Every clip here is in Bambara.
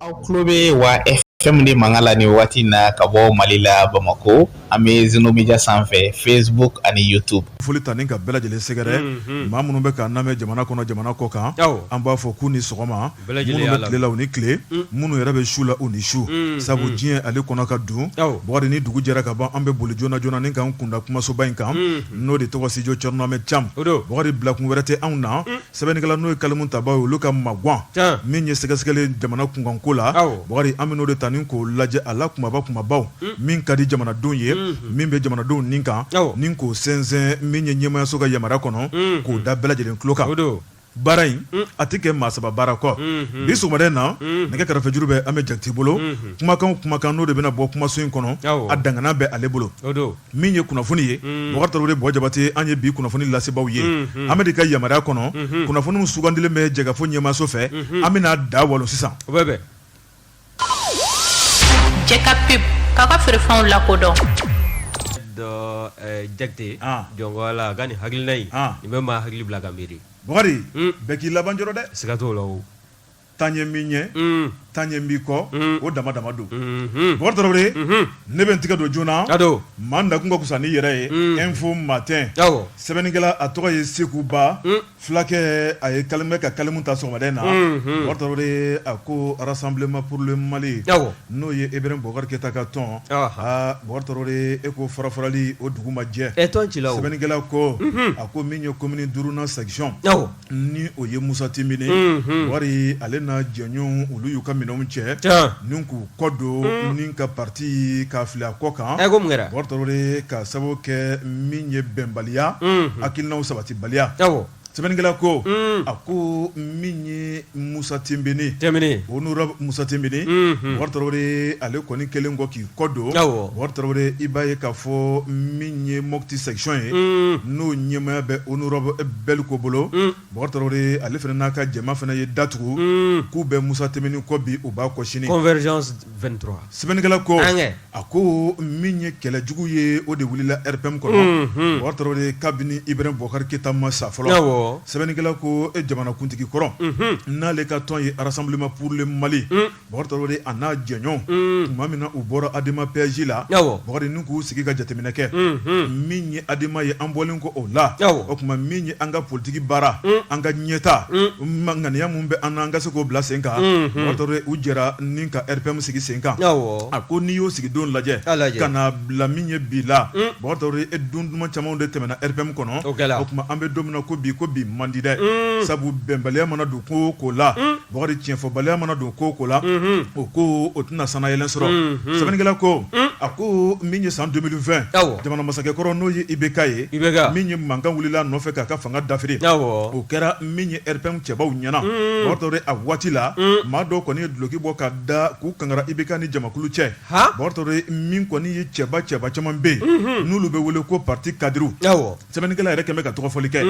aw tulo bɛ wa fm de mankan la nin wagati na ka bɔ mali la bamakɔ an bɛ zeno media sanfɛ facebook ani youtube foli ta ni ka bɛɛ lajɛlen sɛgɛrɛ maa minnu bɛ k'an namɛn jamana kɔnɔ jamana kɔ kan an b'a fɔ k'u ni sɔgɔma minnu bɛ tile la u ni tile minnu yɛrɛ bɛ su la u ni su sabu diɲɛ ale kɔnɔ ka dun bɔkari ni dugu jɛra ka ban an bɛ boli joona joona ni k'an kunda kumasoba in kan n'o de tɔgɔ studio thierno ahmed thiam bɔkari bilakun wɛrɛ tɛ anw na Sɛbɛnnikɛla n'o ye kalimu taba ye olu ka magwan min ye sɛgɛsɛgɛli jamana kunkanko la bɔkari an bɛ n'o de ta ni k'o lajɛ a la kunbaba kunbabaw min ka di jamanadenw ye min bɛ jamanadenw nin kan ni k'o sɛnsɛn min ye ɲɛmayaso ka yamaruya kɔnɔ k'o da bɛɛ lajɛlen tulokan baara in a tɛ kɛ maa saba baara kɔ bi sɔgɔmada in na nɛgɛ karafejuru bɛ an bɛ jakite bolo kumakan kumakan n'o de bɛna bɔ kumaso in kɔnɔ a dangana bɛ ale bolo min ye kunnafoni ye bɔkari tarawele de bɔ jabate an ye bi kunnafoni lasebaaw ye an bɛ de ka yamaruya kɔnɔ kunnafoniw sugandilen bɛ jɛkafo ɲɛmayaso fɛ an bɛna da walon sisan bɛ cɛ ka pe ka ka feerefɛnw lakodɔn jakite jɔn la ka ni hakilina in bɛ maa hakili bila ka miiri bɔkari bɛɛ k'i laban jɔrɔ dɛ siga t'o la tan ye min ɲɛ tan ye min kɔ o dama dama don bɔkari tarawele ne bɛ n tɛgɛ don joona maa nakun ka fisa n'i yɛrɛ ye info matin sɛbɛnnikɛla a tɔgɔ ye seku ba fulakɛ a ye kali bɛ ka kalimu ta sɔgɔmada in na bɔkari tarawele a ko rassemblement pour le mali n'o ye ibrahim boubacar keita ka tɔn bɔkari tarawele e ko farafarali o dugu ma jɛ e sɛbɛnnikɛla ko a ko min ye commune duurunan section ni o ye musa timbine bɔkari ale na jɛɲɔgɔn olu y'u ka minɛnw cɛ ni k'u kɔ don ni ka parti k'a fili a kɔ kan bɔkari tarawele k'a sababu kɛ min ye bɛnbaliya hakilinaw sabatibaliya sɛbɛnnikɛla ko a ko min ye musa timbine honorable musa timbine bɔkari tarawele ale kɔni kɛlen kɔ k'i Kɔ don bɔkari tarawele i b'a ye k'a fɔ min ye mopti section ye n'o ɲɛmaya bɛ honorable belco bolo bɔkari tarawele ale fana n'a ka jama fana ye datugu k'u bɛ musa timbine kɔ bi u b'a kɔ sini convergence 23 sɛbɛnnikɛla ko a ko min ye kɛlɛ jugu ye o de wulila rpm kɔnɔ bɔkari tarawele kabini ibrahim boubacar keita ma sa fɔlɔ sɛbɛnnikɛla ko jamanakuntigi kɔrɔ n'ale ka tɔn ye rassemblement pour le mali Bɔkari tarawele a n'a jɛɲɔgɔn tuma min na u bɔra adema pasj la bɔkari ni k'u sigi ka jateminɛ kɛ min ye adema ye an bɔlen kɔ o la o tuma min ye an ka politigi baara an ka ɲɛta ŋaniya minnu bɛ an na an ka se k'o bila sen kan bɔkari tarawele u jɛra ni ka rpm sigi sen kan a ko n'i y'o sigi don lajɛ ka na bila min ye bi la bɔkari tarawele e don duman camanw de tɛmɛna rpm kɔnɔ o tuma an bɛ don min na ko bi ko bi man di dɛ sabu bɛnbaliya mana don ko o ko la Bakari tiɲɛfɔbaliya mana don ko ko la o ko o tɛna sanayɛlɛn sɔrɔ sɛbɛnnikɛla ko a ko min ye san deux mille vingt jamana masakɛkɔrɔ n'o ye IBK ye min ye mankan wulila nɔfɛ k'a ka fanga dafiri o kɛra min ye RPM cɛbaw ɲɛna Bakari Tarawele a waati la maa dɔw kɔni ye dulɔki bɔ ka da k'u kangara IBK ni jamakulu cɛ Bakari Tarawele min kɔni ye cɛba cɛba caman bɛ yen n'olu bɛ wele ko pati kadiriw Sɛbɛnnikɛla yɛrɛ kɛmɛ bɛ ka tɔgɔfɔli kɛ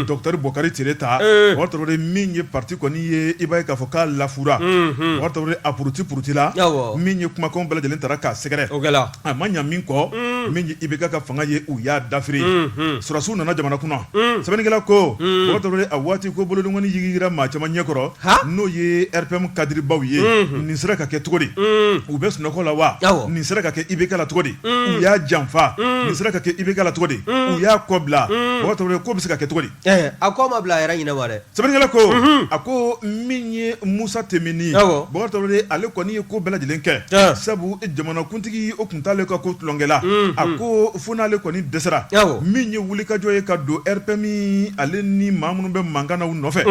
dɔkitɛri Bokari Tereta Bakari Tarawele min ye pati kɔni ye i b'a ye k'a fɔ k'a lafura Bakari Tarawele a puruti purutila min ye kumakan bɛɛ lajɛlen taara k'a sɛgɛrɛ o a ma ɲa min kɔ min ye IBK ka fanga ye u y'a dafiri sɔrɔdasiw nana jamana kunna sɛbɛnnikɛla ko Bakari Tarawele a waati ko bolodenkɔni yigiyigira maa caman ɲɛkɔrɔ n'o ye RPM kadiribaw ye nin sera ka kɛ cogo di u bɛ sunɔgɔ la wa nin sera ka kɛ IBK la cogo di u y'a janfa nin sera ka kɛ IBK la cogo di u y'a kɔ bila Bakari ko bɛ se ka kɛ cogo di a ko ma bila a yɛrɛ ɲɛna wa dɛ sɛbɛnnikɛla ko a ko min ye Musa Timbine Bakari Tarawele ale kɔni ye ko bɛɛ lajɛlen kɛ sabu jamanakuntigi o tun t'ale ka ko tulonkɛla a ko fo n'ale kɔni dɛsɛra min ye wulikajɔ ye ka don RPM ale ni maa minnu bɛ mankan na u nɔfɛ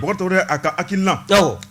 Bakari Tarawele a ka hakilina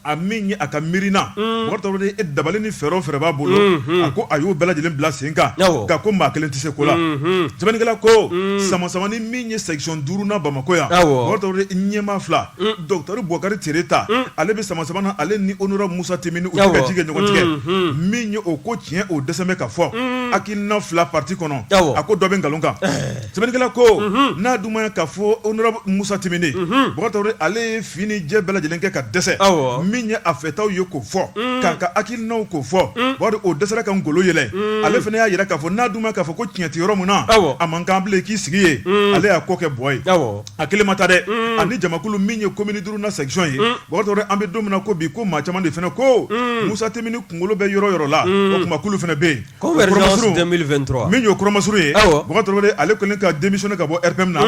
a min ye a ka miirina mm. Bakari Tarawele e dabali ni fɛɛrɛ o fɛɛrɛ b'a bolo mm-hmm. a ko a y'o bɛɛ lajɛlen bila sen kan nka ko maa kelen tɛ se ko la mm-hmm. sɛbɛnnikɛla ko mm. samasamani min ye section duurunan bamakɔ yan Bakari Tarawele ɲɛmaa fila mm. dɔkitɛri Bokari Tereta ale bɛ samasama na ale ni honorable Musa Timbine u bɛ ka ji kɛ ɲɔgɔn tigɛ mm-hmm. min ye o ko tiɲɛ o dɛsɛ bɛ ka fɔ hakilina fila parti kɔnɔ a ko dɔ bɛ nkalon kan eh. Sɛbɛnnikɛla ko n'a dun m'a ye k'a fɔ honorable Musa Timbine, unhun, Bakari Tarawele ale ye fin ni jɛ bɛɛ lajɛlen kɛ ka dɛsɛ, awɔ, min ye a fɛtaw ye k'o fɔ, un, k'a ka hakilinaw k'o fɔ, un, bari o dɛsɛra ka ngolo yɛlɛ, un, ale fana y'a jira k'a fɔ n'a dun m'a ye k'a fɔ ko tiɲɛ tɛ yɔrɔ min na, awɔ, a man kan bilen i k'i sigi yen, un, ale y'a ko kɛ bɔ yen, awɔ, a kelen ma taa dɛ, un, a ni jamakulu min ye commune duurunan section ye, un, Bakari Tarawele an bɛ don min na ko bi ko maa caman de fana ko, un, Musa Timbine kunkolo bɛ yɔrɔ o yɔrɔ la, un, o tuma k'olu fana bɛ yen Convergence deux mille vingt-trois min y'o kɔrɔmasuru ye ale kɔni ka démissionner ka bɔ RPM na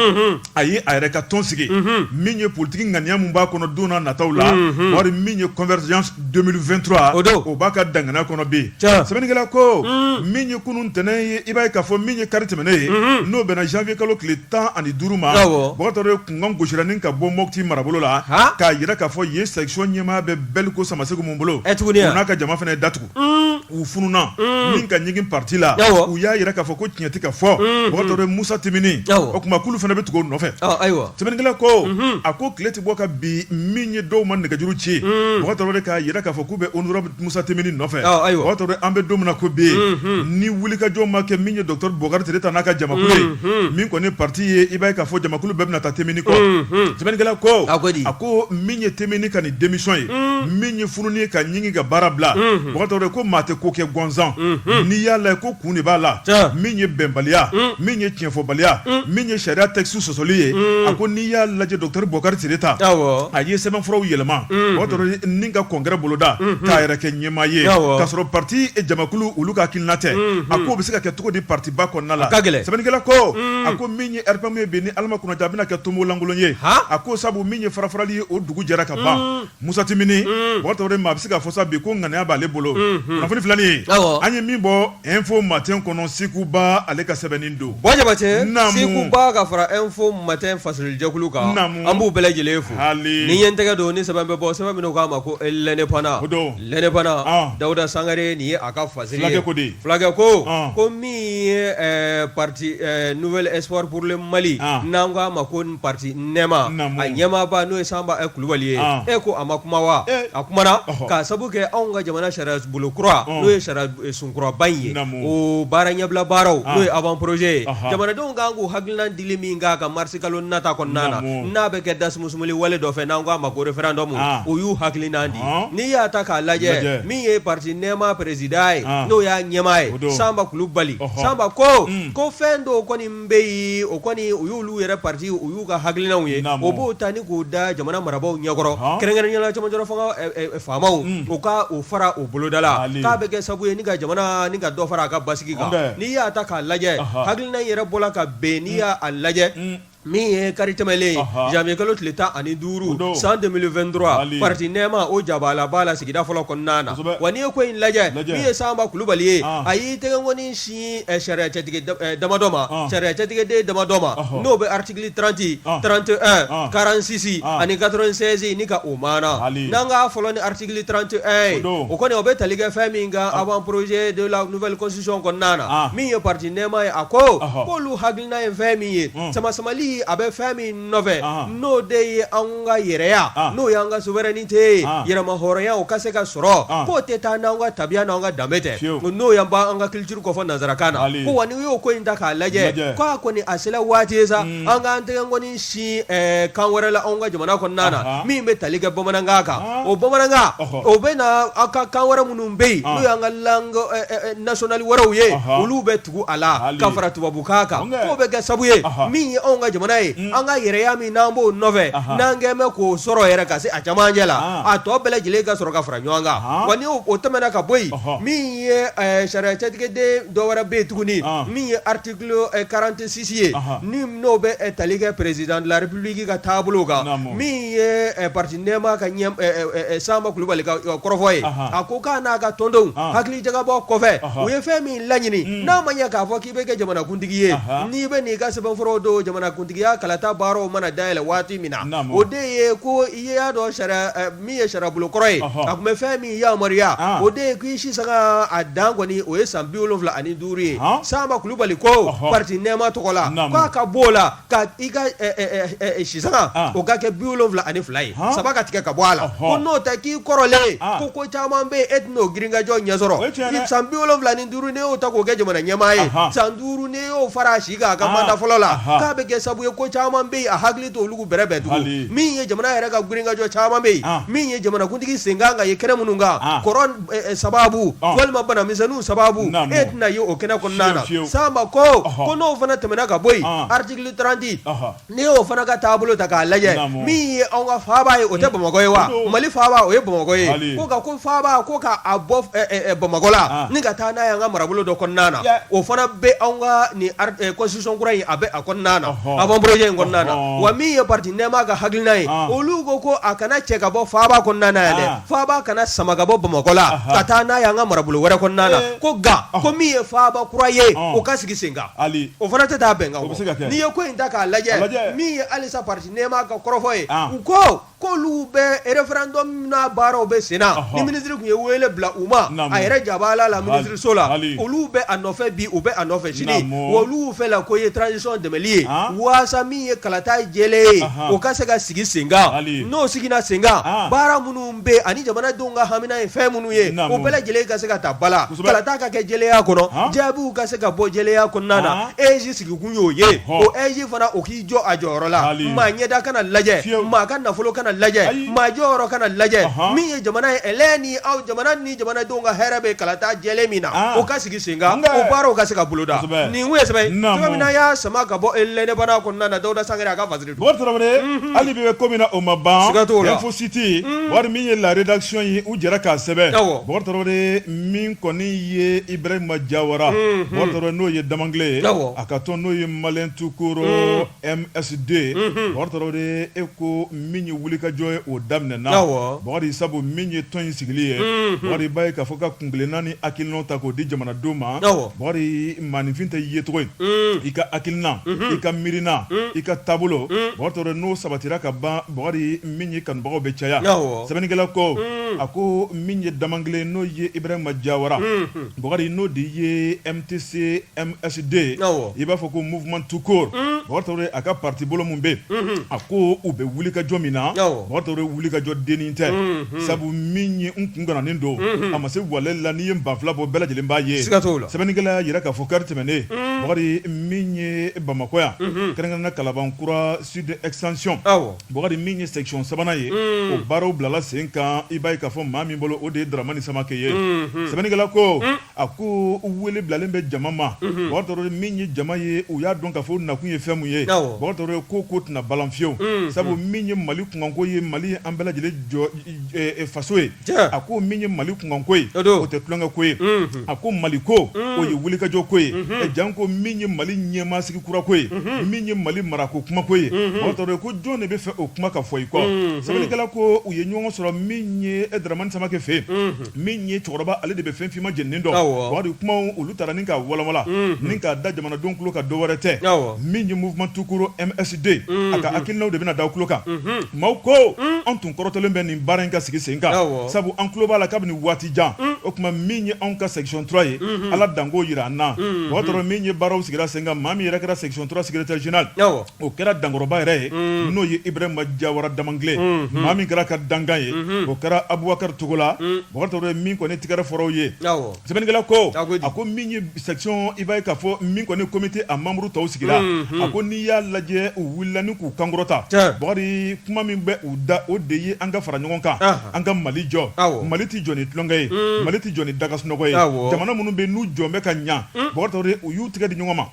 a y'a yɛrɛ ka tɔn sigi min ye politigi ŋaniya min b'a kɔnɔ don nataw la Bakari min ye Convergence deux mille vingt-trois o b'a ka danganaya kɔnɔ bi sɛbɛnnikɛla ko min ye kunun ntɛnɛn ye i b'a ye k'a fɔ min ye kari tɛmɛnen ye n'o bɛnna zanwiye kalo tile tan ani duuru ma Bakari Tarawele kunkan gosira ni ka bɔ Mɔti marabolo la k'a jira k'a fɔ yen section ɲɛmaa bɛ Bɛliko Samasegu min bolo u n'a ka jama fana ye datugu u fununa min ka ɲigin pati la u y'a jira k'a fɔ ko tiɲɛ tɛ k'a fɔ Bakari Musa Timbine o tuma k'olu fana bɛ tugu o nɔfɛ ayiwa sɛbɛnnikɛla ko a ko tile tɛ bɔ ka bi min ye dɔw ma nɛgɛjuru ci Bakari k'a jira k'a fɔ k'u bɛ honorable Musa Timbine nɔfɛ ayiwa an bɛ don min na ko bi ni wulikajɔ ma kɛ min ye dɔkitɛri Bokari Tereta n'a ka jamakulu ye min kɔni pati ye i b'a ye k'a fɔ jamakulu bɛɛ bɛna taa Timbine kɔ sɛbɛnnikɛla ko a ko min ye te ka démission ye min ye fununi ye ka ɲigi ka baara bila mɔgɔ ko maa tɛ ko kɛ gansan n'i y'a lajɛ ko kun de b'a la min ye bɛnbaliya min ye tiɲɛfɔbaliya min ye sariya texte sɔsɔli ye a ko n'i y'a lajɛ docteur bɔkari tereta a ye sɛbɛnfuraw yɛlɛma ni ka congrès boloda k'a yɛrɛ kɛ ɲɛmaa ye k'a sɔrɔ pati jamakulu olu ka hakilina tɛ a ko bɛ se ka kɛ cogo di patiba kɔnɔna la sɛbɛnnikɛla ko a ko min ye rpm ye bi ni ala ma kunna a bɛna kɛ tomo lankolon ye a ko sabu min ye farafarali ye dugu jɛra ka ban musa timbine maa bɛ se k'a fɔ sa bi ko ŋaniya b'ale bolo kunnafoni filanin an ye min bɔ info matin kɔnɔ sekuba ale ka sɛbɛnnen don ka fara info matin fasirijɛkulu kan an b'u bɛɛ lajɛlen fo hali ni ɲɛ tɛgɛ don ni sɛbɛn bɛ bɔ sɛbɛn min k'a ma ko l'indépendant don l'indépendant dawuda sangare nin ye a ka fa ko di fulakɛ ko ko min ye pati nouvel espoir pour le mali n'an k'a ma ko pati nɛma a ɲɛmaaba n'o ye sanba kulubali ye e ko a ma kuma wa a kumana k'a sabu kɛ anw ka jamana sariya bolo kura n'o ye sariya sun kuraba in ye o baara ɲɛbila baaraw n'o ye avant projet ye jamanadenw kan k'u hakilina dili min kan ka marisi kalo nata kɔnɔna na n'a bɛ kɛ dasumusumuli wale dɔ fɛ n'an k'a ma ko référendum o y'u hakilina di n'i y'a ta k'a lajɛ min ye pati nɛma président ye n'o y'a ɲɛmaa ye sanba kulubali sanba ko ko fɛn dɔw kɔni bɛ yen o kɔni u y'olu yɛrɛ pati u y'u ka hakilinaw ye o b'o ta ni k'o da jamana marabagaw ɲɛkɔrɔ kɛrɛnkɛrɛnnenya na cɛmancɛ fanga faamaw u ka o fara u boloda la k'a bɛ kɛ sabu ye ka jamana ni ka dɔ fara a ka basigi kan n'i y'a ta k'a lajɛ hakilina yɛrɛ bɔra ka bɛn n'i y'a lajɛ min ye kari tɛmɛlen janvier kalo tile tan ani duuru san deux mille vingt-trois pati nɛma o ja la b'a la sigida fɔlɔ kɔnɔna na wa n'i ye ko in lajɛ min ye sanba kulubali ye a y'i tɛgɛkɔni sin sariya cɛtigɛ damadɔ ma sariya cɛtigɛden damadɔ ma n'o bɛ article trente trente et un quarante-six ani quatre-vingt-seize ni ka o maana n'an k'a fɔlɔ ni article trente et un o kɔni o bɛ tali kɛ fɛn min kan avant projet de la nouvelle constitution kɔnɔna na min ye pati nɛma ye a ko k'olu hakilina ye fɛn min ye samasamali a bɛ fɛn min nɔfɛ n'o de ye an ka yɛrɛya n'o y'an ka souveraineté ye yɛrɛmahɔrɔnya o ka se ka sɔrɔ k'o tɛ taa n'an ka tabiya n'an ka danbe tɛ n'o y' ban an ka culture k'o fɔ nanzarakan na ko wa n'i y'o ko in ta k'a lajɛ k'a kɔni a sera waati ye sa an k'an tɛgɛkɔni sin kan wɛrɛ la an ka jamana kɔnɔna na min bɛ tali kɛ bamanankan kan o bamanankan o bɛ na anw ka kan wɛrɛ minnu bɛ yen n'o y'an ka langue nationale wɛrɛw ye olu bɛ tugu a la Hali ka fara tubabukan kan Ɔnkɛ. k'o bɛ kɛ sabu ye Ɔhɔ. min ye anw ka jamana ye an ka yɛrɛya min n'an b'o nɔfɛ Aha. n'an k'an bɛ k'o sɔrɔ yɛrɛ ka se a camancɛ la Ah. a tɔ bɛɛ lajɛlen ka sɔrɔ ka fara ɲɔgɔn kan Aha. wa ni o o tɛmɛna ka bɔ yen Ɔhɔ. min ye eh, sariya cɛtigɛden dɔ wɛrɛ bɛ yen tuguni Ah. min ye article eh, 46 ye Aha. ni n'o bɛ eh, tali kɛ président de la république ka taabolo kan Naamu. min ye eh, parti nɛɛma ka ɲɛ eh, eh, eh, Sanba Kulubali ka eh, kɔrɔfɔ ye Aha. a ko k'a n'a ka tɔndenw Ah. hakili jagabɔ kɔfɛ Ɔhɔ. u ye fɛn min laɲini n'a ma ɲɛ k'a fɔ k'i bɛ kɛ jamanakuntigi ye n'i bɛ n'i ka sɛbɛnfuraw don jamanakuntigiya kalata baaraw mana dayɛlɛ waati min na o de ye ko i y'a dɔn sariya min ye sariyabolo kɔrɔ ye a tun bɛ fɛn min yamaruya o de ye k'i si sanga a dan kɔni o ye san bi wolonwula ani duuru ye sanba kulubali ko parti nɛɛma tɔgɔ la k'a ka bɔ o la ka i ka sisanga o ka kɛ bi wolonwula ani fila ye saba ka tigɛ ka bɔ a la ko n'o tɛ k'i kɔrɔlen ko ko caman bɛ yen e tɛna o girinkajɔ ɲɛ sɔrɔ san bi wolonwula ni duuru n'e y'o ta k'o kɛ jamana ɲɛmaa ye san duuru n'e y'o fara a si kan a ka manda fɔlɔ la k'a bɛ kɛ sabu ye ko caman bɛ yen a hakili t'olu bɛrɛbɛn tugun min ye jamana yɛrɛ ka girinkajɔ caman bɛ yen min ye jamanakuntigi sen kan ka ye kɛnɛ minnu kan sababu walima banamisɛnninw sababu e tɛna ye o kɛnɛ kɔnɔna na sanba ko ko n'o fana tɛmɛna ka bɔ yen article 30 n'i y'o fana ka taabolo ta k'a lajɛ min ye anw ka faaba ye o tɛ bamakɔ ye wa mali faaba o ye bamakɔ ye ko ko faaba ko k'a bɔ bamakɔ la ni ka taa n'a ye' ka marabolo dɔ kɔnɔna na o fana bɛ anw ka ni constitution kura in a bɛ a kɔnɔna na avant projet in kɔnɔna na wa min ye parti nɛɛma ka hakilina ye olu ko ko a kana cɛ ka bɔ faaba kɔnɔna na yan dɛ Faaba kana sama ka bɔ bamakɔ la ka taa n'a y'an ka marabolo wɛrɛ kɔnɔna na ko nka ko min ye faaba kura ye o ka sigi sen kan o fana tɛ taa bɛnkan kɔ n'i ye ko in ta k'a lajɛ min ye halisa parti nɛɛma ka kɔrɔfɔ ye u ko k'olu bɛ référendum n'a baaraw bɛ sen na ni minisiri tun ye wele bila u ma a yɛrɛ jaba la minisiriso la olu bɛ a nɔfɛ bi u bɛ a nɔfɛ sini olu fɛ la ko ye transition dɛmɛnli ye ye kalata jɛlen ye o ka se ka sigi sen kan n'o sigira sen kan baara minnu bɛ ani jamanadenw ka hamina ye fɛn minnu ye o bɛɛ lajɛlen ka se ka ta ba la kalata ka kɛ jɛlenya kɔnɔ jaabiw ka se ka bɔ jɛlenya kɔnɔna na AIGE sigikun y'o ye o AIGE fana o k'i jɔ a jɔyɔrɔ la maa ɲɛda kana lajɛ maa ka nafolo kana lajɛ maa jɔyɔrɔ kana lajɛ min ye jamana ye ni aw jamana jamanadenw ka hɛrɛ bɛ kalata jɛlen min na o ka sigi sen kan o baaraw ka se ka boloda nin tun ye sɛbɛn min na an y'a sama ka bɔ eh l'Indépendant kɔnɔna na dawuda sangare a ka fasiri don hali bi an bɛ ko min na o ma ban info siti wari min ye la rédaction ye u jɛra k'a sɛbɛn min kɔni ye ibrahima jawara n'o ye damangile ye a ka tɔn n'o ye Maliens tout court MSD Bakari Tarawele e ko min ye wulikajɔ ye o daminɛ na Bakari sabu min ye tɔn in sigili ye Bakari b'a ye k'a fɔ ka kunkelenna ni hakilina ta k'o di jamanadenw ma Bakari mainfin tɛ yecogo in i ka hakilina i ka miirina i ka taabolo Bakari Tarawele n'o sabatira ka ban Bakari min ye kanubagaw bɛ caya sɛbɛnnikɛla ko a ko min ye Damankilen n'o ye Ibrahima Diawara Bakari n'o de ye MTC MSD awɔ i b'a fɔ ko mouvement tout court unn Bakari Tarawele a ka parti bolo min bɛ ye unhun a ko u bɛ wulikajɔ min na awɔ Bakari Tarawele wulikajɔ dennin tɛ unhun sabu min ye n kun gananen don unhun a ma se walɛli la n'i ye banfula bɔ bɛɛ lajɛlen b'a ye siga t'o la sɛbɛnnikɛla y'a jira k'a fɔ kari tɛmɛnen unn Bakari min ye Bamakɔ yan unhun kɛrɛnkɛrɛnnenya Kalabankura sud extension awɔ Bakari min ye section sabanan ye unn o baaraw bilala sen kan i b'a ye k'a fɔ maa min bolo o de ye Daramani Samake ye unhun sɛbɛnnikɛla ko unn a ko wele bilalen bɛ jama ma Bakari Tarawele min ye jama ye u y'a dɔn k'a fɔ nakun ye fɛn mun ye Bakari Tarawele ko ko tɛna balan fiyewu sabu min ye mali kunkanko ye mali ye an bɛɛ lajɛlen jɔ faso ye a ko min ye mali kunkanko ye o tɛ tulonkɛ ko ye a ko mali ko o ye wulikajɔ ko ye jan ko min ye mali ɲɛmaa sigi kurako ye min ye mali marako kumako ye Bakari Tarawele ko jɔn de b'a fɛ o kuma ka fɔ i kɔ sɛbɛnnikɛla ko u ye ɲɔgɔn sɔrɔ min ye dramani samakɛ fɛ yen min ye cɛkɔrɔba ale de bɛ fɛn finman jeninen dɔn Bakari kuma olu taara ni k'a walawala ni k'a da jamanadenw tulo kan dɔ wɛrɛ tɛ min ye mouvement tout court MSD a ka hakilinaw de bɛna da tulo kan maaw ko an tun kɔrɔtɔlen bɛ nin baara in ka sigi sen kan sabu an tulo b'a la kabini waati jan o tuma min ye anw ka section trois ye ala danko jira an na Bakari Tarawele min ye baaraw sigira sen kan maa min yɛrɛ kɛra section trois secrétaire général o kɛra dankɔrɔba yɛrɛ ye n'o ye Ibrahima Diawara Damankilen maa min kɛra ka dankan ye o kɛra Abubakari Togola Bakari Tarawele min kɔni tigɛrɛ fɔra u ye sɛbɛnnikɛla ko a ko min ye section i b'a ye k'a fɔ min kɔni comité a membre tɔw sigira a ko n'i y'a lajɛ u wulila ni k'u kan kɔrɔta Bakari kuma min bɛ u da o de ye an ka fara ɲɔgɔn kan an ka mali jɔ mali tɛ jɔ ni tulonkɛ ye mali tɛ jɔ ni daga sunɔgɔ ye jamana minnu bɛ n'u jɔlen bɛ ka ɲɛ Bakari Tarawele u y'u tigɛ di ɲɔgɔn ma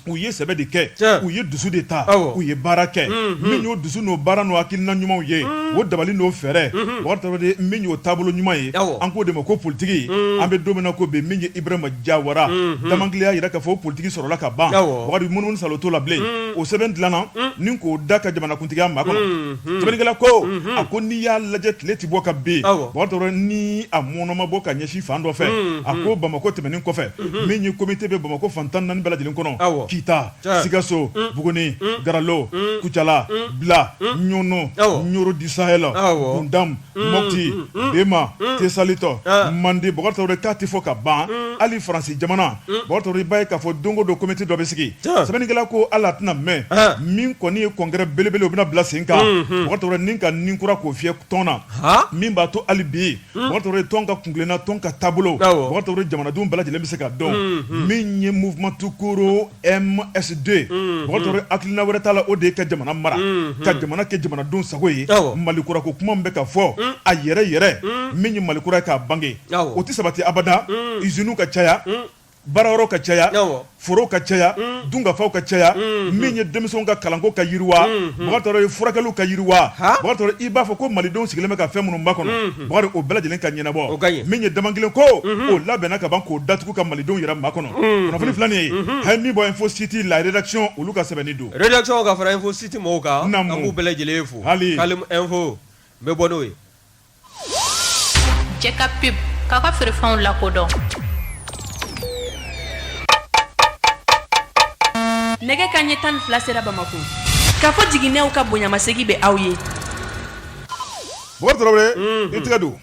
u ye sɛbɛ de kɛ Tiɲɛ. u ye dusu de ta Awɔ. u ye baara kɛ min y'o dusu n'o baara n'o hakilina ɲumanw ye o dabali n'o fɛɛrɛ Bakari Tarawele min y'o taabolo ɲuman ye Awɔ. an k'o de ma ko politiki an bɛ don min na ko bi min ye Ibrahima Diawara Damankilen y'a jira k'a fɔ o politiki sɔrɔla ka ban Awɔ. Bakari munumunu salo t'o la bilen o sɛbɛn dilanna ni k'o da ka jamanakuntigiya makɔnɔ sɛbɛnnikɛla ko a ko n'i y'a lajɛ tile ti bɔ ka bin Awɔ. Bakari Tarawele ni a mɔɔnɔ ma bɔ ka ɲɛsin fan dɔ fɛ a ko Bamakɔ tɛmɛnen kɔfɛ min ye komite bɛ bamakɔ fan tan naani bɛɛ lajɛlen kɔnɔ kita sikaso buguni garalo kucala bila ɲɔnɔ ɲɔrɔ du sahel gundamu mɔti bema tesalitɔ mande bɔkari tarawele k'a ti fɔ ka ban hali faransi jamana bɔkari tarawele i b'a ye k'a fɔ don o don komite dɔ bɛ sigi sɛbɛnnikɛla ko ala tɛna mɛn min kɔni ye congrès belebele o bɛna bila sen kan bɔkari tarawele ni ka nin kura k'o fiyɛ tɔn na min b'a to hali bi hmm. bɔkari tarawele tɔn ka kuntilenna tɔn ka taabolo bɔkari tarawele jamanadenw bɛɛ lajɛlen bɛ se k'a dɔn hmm, hmm. min ye mouvement tukoro msd bɔkari tarawele hakilina wɛrɛ t'a la o de ye ka jamana mara ka jamana kɛ jamanadenw sago ye malikura ko kuma bɛ ka fɔ a yɛrɛ yɛrɛ min ye malikura ye k'a bange o tɛ sabati abada iziniw ka caya Baarayɔrɔw ka caya forow ka caya dunkafaw ka caya min ye denmisɛnw ka kalanko ka yiriwa bɔkari tarawele furakɛliw ka yiriwa bɔkari tarawele i b'a fɔ ko malidenw sigilen bɛ ka fɛn minnu makɔnɔ o bɛɛ lajɛlen ka ɲɛnabɔ min ye dama kelen ko o labɛnna ka ban k'o datugu ka malidenw yɛrɛ makɔnɔ kunnafoni filɛ nin ye a ye min bɔ info sept la rédaction olu ka sɛbɛn don ka fara info sept mɔgɔw kan an b'u bɛɛ lajɛlen fo fo n bɛ bɔ n'o ye Cɛ ka pe k'a ka feerefɛnw lakodɔn nɛgɛ kanɲɛ tan ni fila sera bamakɔ kafo jiginɛw ka bonyamasegin bɛ aw ye i tɛgɛ don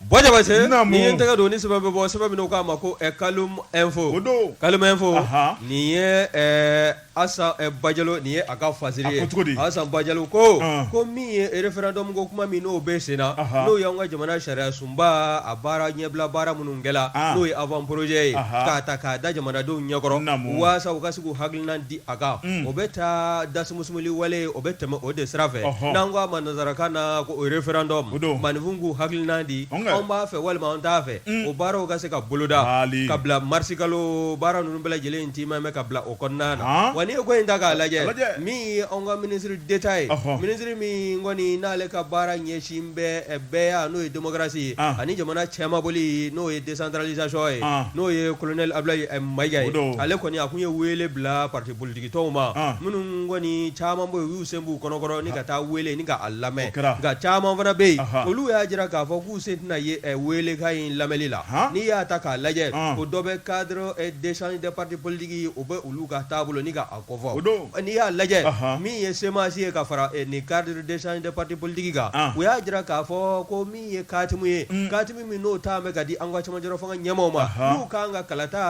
ba tɛgɛ don ni bɛ bɔ sɛbɛn min k'a ma ko kaloum info don kaloum info nin ye Asan bajalo nin ye a ka fa asan bajalo ko ko min ye référendum ko kuma min n'o bɛ sen na n'o y'an ka jamana sariya sunba a baara ɲɛbila baara minnu kɛla n'o ye avant projet ye k'a ta k'a da jamanadenw ɲɛkɔrɔ na waasa u ka se k'u hakilina di a kan o bɛ taa dasumsumli wale o bɛ tɛmɛ o de sira fɛ n'an ko a ma nansarakan na ko référendum maaninfin k'u hakilina di anw b'a fɛ walima an t'a fɛ o baaraw ka se ka boloda ka bila marisikalo baara ninnu bɛɛ lajɛlen in tiimɛni ka bila o O kɔnɔna na Haan wa n'i ye ko in ta k'a lajɛ a lajɛ min ye anw ka ministre d'Etat ye ɔhɔ ministre min kɔni n'ale ka baara ɲɛsin bɛ ɛ bɛɛya n'o ye démocratie ye an ani jamana cɛmabɔli n'o ye décentralisation ye an n'o ye colonel Abulayi ɛ Mayiga ye o don ale kɔni a tun ye weele bila parti politique tɔnw ma an minnu kɔni caman bɛ yen u y'u sen b'u kɔnɔkɔrɔ ni ka taa weele ni k'a lamɛn o kɛra nka caman fana bɛ yen anhan olu y'a jira k'a fɔ k'u sen tɛna ye ɛ weelekan in lamɛli la haan n'i y'a ta k'a lajɛ an o dɔ bɛ cadre ɛ d'échange des partis politiques o bɛ olu ka taabolo ni k'a kofɔ o don n'i y'a lajɛ min ye CMAS ye ka fara ni cadre d'échange des partis politiques kan u y'a jira k'a fɔ ko min ye katimu ye katimu min n'o taama bɛ ka di an ka camancɛ fanga ɲɛmaaw ma n'u kan ka kalata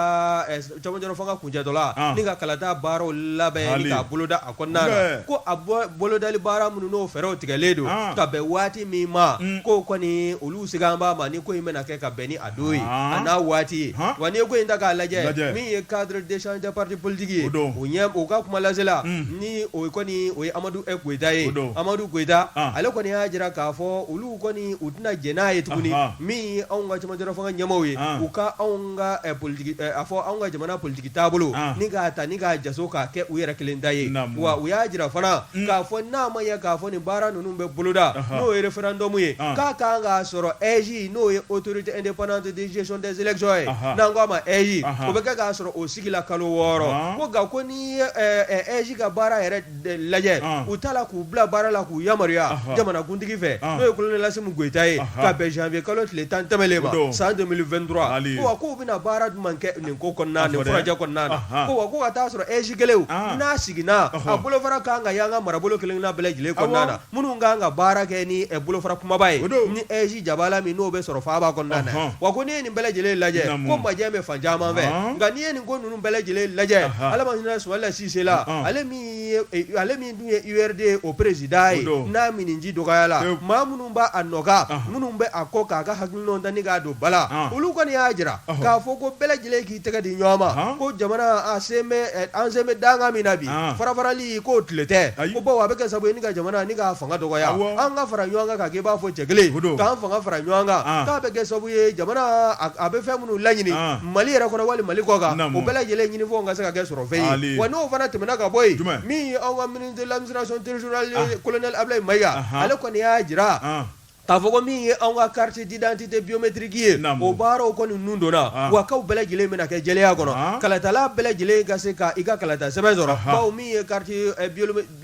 camancɛ fanga kuncɛtɔ la ni ka kalata baaraw labɛn k'a boloda a kɔnɔna na ko a bɔ bolodali baara minnu n'o fɛɛrɛw tigɛlen don ka bɛn waati min ma k'o kɔni olu sigan b'a ma ni ko in bɛna kɛ ka bɛn don a n'a waati ye wa n'i ye ko in ta k'a lajɛ min ye cadre d'échange des partis politiques ye don u ka kuma lasela ni o kɔni o ye Amadu Koyita ye don Amadu Koyita ale kɔni y'a jira k'a fɔ olu kɔni u tɛna jɛn n'a ye tuguni min ye anw ka cɛmancɛ fanga ɲɛmaaw ye u ka anw ka politigi a fɔ anw ka jamana politigi taabolo bolo ni k'a ta ni k'a ja k'a kɛ u yɛrɛ kelen ta ye wa u y'a jira fana k'a fɔ n'a ma ye k'a fɔ nin baara ninnu bɛ boloda n'o ye référendum ye k'a ka kan k'a sɔrɔ EJ n'o ye autorité indépendante de gestion des élections ye, anhan, n'an k'a ma EJ, anhan, o bɛ kɛ k'a sɔrɔ o sigila kalo wɔɔrɔ, Ɔn! ko nka ko n'i ye ɛ, ɛ, EJ ka baara yɛrɛ de lajɛ, Ɔn! u taala k'u bila baara la k'u yamaruya Anhan! jamanakuntigi fɛ Ɔn! n'o ye kolonɛli Asimi Goyita ye Anhan! ka bɛn janvier kalo tile tan tɛmɛnlen O don. ma san 2023 Hali. ko wa k'u bɛna baara jumɛn kɛ nin ko kɔnɔna na A nin fɔ dɛ. furajɛ kɔnɔna na Anhan! ko wa ko ka t'a sɔrɔ EJ kɛlenw Ɔn! n'a siginna a Ɔhɔ. bolofara ka kan ka y'an ka marabolo kelen-kelenna bɛɛ lajɛlen kɔnɔna Awɔ. na Minnu ka kan ka baara kɛ ni bolofara kumaba ye ni EJ jabala min n'o bɛ sɔrɔ faaba kɔnɔna wa ko n'i ye nin bɛɛ lajɛlen lajɛ ko majɛ bɛ fan caman fɛ nka n'i ye nin ko ninnu bɛɛ lajɛlen lajɛ ala ma hinɛ Sumayila Sise la ale ale min dun ye URD o président ye n'a minniji dɔgɔyala maa minnu b'a a nɔkan minnu bɛ a kɔ k'a ka hakilinaw ta ni k'a don ba la olu kɔni y'a jira k'a fɔ ko bɛɛ lajɛlen I tɛgɛ di ɲɔgɔn ma ko jamana an sen bɛ danga min na bi farafarali k'o tile tɛ ko bawo a bɛ kɛ sabu ye ka jamana nin ka fanga dɔgɔya an ka fara ɲɔgɔn kan k'a kɛ i b'a fɔ cɛ kelen k'an fanga fara ɲɔgɔn kan k'a bɛ kɛ sabu ye jamana a bɛ fɛn minnu laɲini mali yɛrɛ kɔnɔ wali mali kɔ kan o bɛɛ lajɛlen ɲinifɛn ka se ka kɛ sɔrɔfɛn ye wa n'o fana tɛmɛna ka bɔ yen min ye anw ka ministre de l'administration territoriale colonel Abdoulaye Mayiga ale kɔni y'a jira K'a fɔ ko min ye anw ka carte d'identité biométrique ye, naamu, o baaraw kɔni nun donna, an, wa k'aw bɛɛ lajɛlen bɛna kɛ jɛlenya kɔnɔ, an, kalatala bɛɛ lajɛlen ka se ka i ka kalata sɛbɛn sɔrɔ, anhan, bawo min ye carte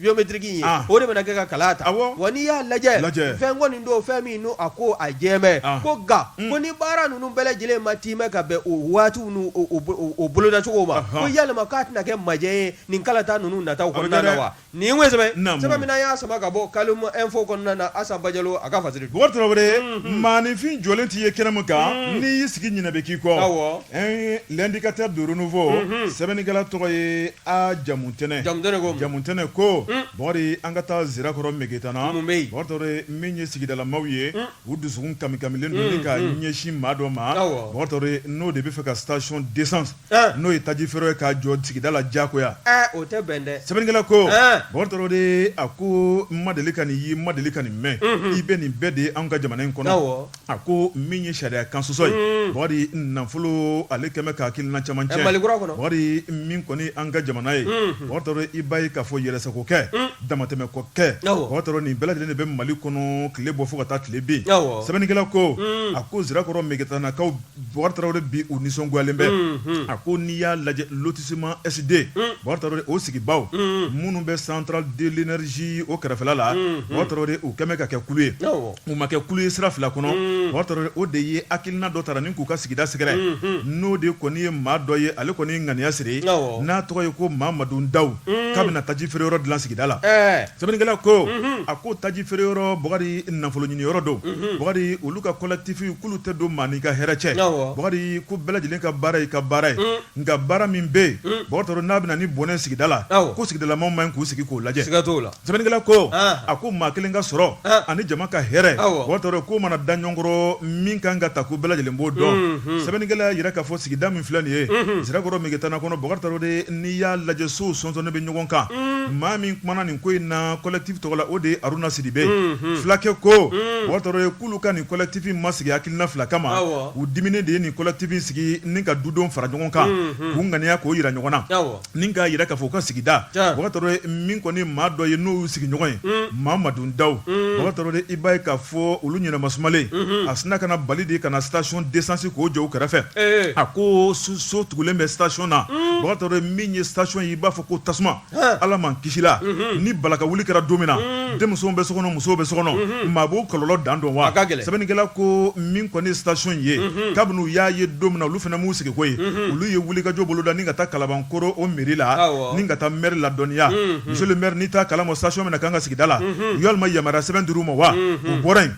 biométrique in ye, an, o de bɛna kɛ ka kala ta, awɔ, wa n'i y'a lajɛ, lajɛ, fɛn kɔni don fɛn min n'o a ko a jɛlen bɛ, an, ko nka, un, ko ni baara ninnu bɛɛ lajɛlen ma timɛ ka bɛn o waatiw n'u o o o bolodacogo ma, anhan, ko yalima k'a tɛna kɛ majɛ ye nin kalata ninnu nataw kɔnɔna na wa Nin ye sɛbɛn sɛbɛn min y'a saba ka bɔ kalo fɔ kɔnɔna na asaba a ka fa maafin'i jɔlen tɛ ye kɛnɛ min kan n'i y'i sigi ɲɛna bɛ k'i kɔ di ka tɛ don fɔ sɛbɛnnikɛla tɔgɔ ye a jamu tɛnɛn jamu tɛnɛn ko an ka taa sirakɔrɔ mketana min ye sigidalama ye u dusu kami kamilen ka ɲɛsin maa dɔ ma n'o de bɛ fɛ ka sacɔn de N'o ye taji feere ye k'a jɔ sigida la diyagoya o tɛ bɛn dɛ sɛbɛnnikɛla ko Bokar Traoré a ko n ma deli ka nin ye n ma deli ka nin mɛn i bɛ nin bɛɛ de ye an ka jamana in kɔnɔ a ko min ye sariya kan sɔsɔ ye Bokari nafolo ale kɛmɛ ka hakilina caman cɛ Bokari min kɔni an ka jamana ye Bokar Traoré i b'a ye k'a fɔ yɛrɛsagokɛ damatɛmɛ ko kɛ Bokar Traoré nin bɛɛ lajɛlen de bɛ Mali kɔnɔ tile bɔ fo ka taa tile bin sɛbɛnnikɛla ko a ko Sirakɔrɔ Megetanakaw Bokar Traoré bi u nisɔngoyalen bɛ a ko n'i y'a lajɛ lotissement SD Bokar Traoré o sigibaw minnu bɛ centrale de l'énergie o kɛrɛfɛla la Bokar Traoré u kɛmɛ ka kɛ kulu ye u ma kɛ kulu ye sira fila kɔnɔ Bokar Traoré o de ye hakilina dɔ tara ni k'u ka sigida sɛgɛrɛ n'o de kɔni ye maa dɔ ye ale kɔni ye ŋaniya siri n'a tɔgɔ ye ko Mamadu Ndaw k'a bɛna taji feere yɔrɔ dilan sigida la sɛbɛnnikɛla ko a ko taji feere yɔrɔ Bokari nafolo ɲini yɔrɔ don Bokari olu ka collectif k'olu tɛ don maa n'i ka hɛrɛ cɛ, awɔ, Bokari ko bɛɛ lajɛlen ka baara y'i ka baara ye, un, nka baara min bɛ yen, un, Bokar Traoré n'a bɛ na ni bɔnɛ ye sigida la, awɔ, ko sigidalamaw man ɲi k'u sigi k'o lajɛ, siga t'o la, sɛbɛnnikɛla ko, an, a ko maa kelen ka sɔrɔ, an, ani jama ka hɛrɛ, awɔ, Bokar Traoré k'o mana da ɲɔgɔn kɔrɔ min ka kan ka ta ko bɛɛ lajɛlen b'o dɔn, unhun, sɛbɛnnikɛla y'a jira k'a fɔ sigida min filɛ nin ye, unhun, Sirakɔrɔ Megetan kɔnɔ Bokar Traoré n'i y'a lajɛ sow sɔnsɔnnen bɛ ɲɔgɔn kan, un, maa min kumana nin ko in na collectif tɔgɔ la o de ye Haruna Sidibe ye, unhun, fulakɛ ko, un, Bokar Traoré olu ka nin collectif ma sigi hakilina fila kama u diminen de ye nin collectif sigi ni ka dudon fara ɲɔgɔn kan k'u ŋaniya k'o jira ɲɔgɔn na ni k'a jira k'a fɔ u ka sigida Bokar Traoré min kɔni maa dɔ ye n'o y'u sigiɲɔgɔn ye Mamadu Ndaw Bokar Traoré i b'a ye k'a fɔ olu ɲɛnama sumalen a sinna ka na bali de ka na station d'essence k'o jɔ u kɛrɛfɛ a ko so tugulen bɛ station na Bokar Traoré min ye station ye i b'a fɔ ko tasuma Ala m'an kisi la ni balaka wuli kɛra don min na denmusow bɛ so kɔnɔ musow bɛ so kɔnɔ maa b'o kɔlɔlɔ dan dɔn wa sɛbɛnnikɛla ko min kɔni station ye kabini u y'a ye don min na olu fana m'u sigi k'o ye olu ye wulikajɔ boloda ni ka taa Kalabankoro o mairie la ni ka taa maire ladɔnniya monsieur le maire n'i t'a kalama station min na kan an ka sigida la walima yamaruya sɛbɛn dir'u ma wa u bɔra yen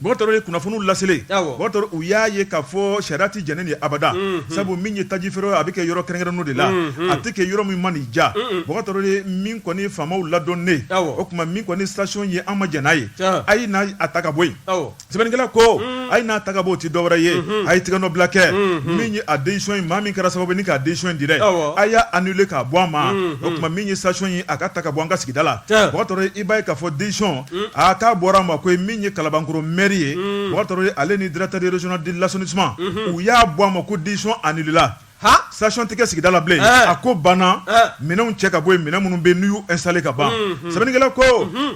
ye kunnafoniw laselen u y'a ye k'a fɔ sariya tɛ jɛn n'a ye abada sabu min ye taji feere a bɛ kɛ yɔrɔ kɛrɛnkɛrɛnnenw de la a tɛ kɛ yɔrɔ min man'i diya Bokar Traoré min kɔni faamaw ladɔnnen o tuma min kɔni station ye an ma jɛn n'a ye a ye n'a ta ka bɔ yen sɛbɛnnikɛla ko a ye n'a ta k'a bɔ o tɛ dɔwɛrɛ ye a ye tɛgɛ nɔ bila kɛ min ye a décision ye maa min kɛra sababu ni k'a décision di dɛ a y'a annulé k'a bɔ a ma o tuma min ye station ye a ka ta ka bɔ an ka sigida la i b'a ye k'a fɔ den aa k'a bɔra a ma ko min ye Kalabankɔrɔ maire ye Bokar Traoré ale ni directeur régional de l'assainissement u y'a bɔ a ma ko décision annulé la station tɛ kɛ sigida la bilen a ko banna minɛnw cɛ ka bɔ yen minɛn minnu bɛ n'u y'u installé ka ban sɛbɛnnikɛla ko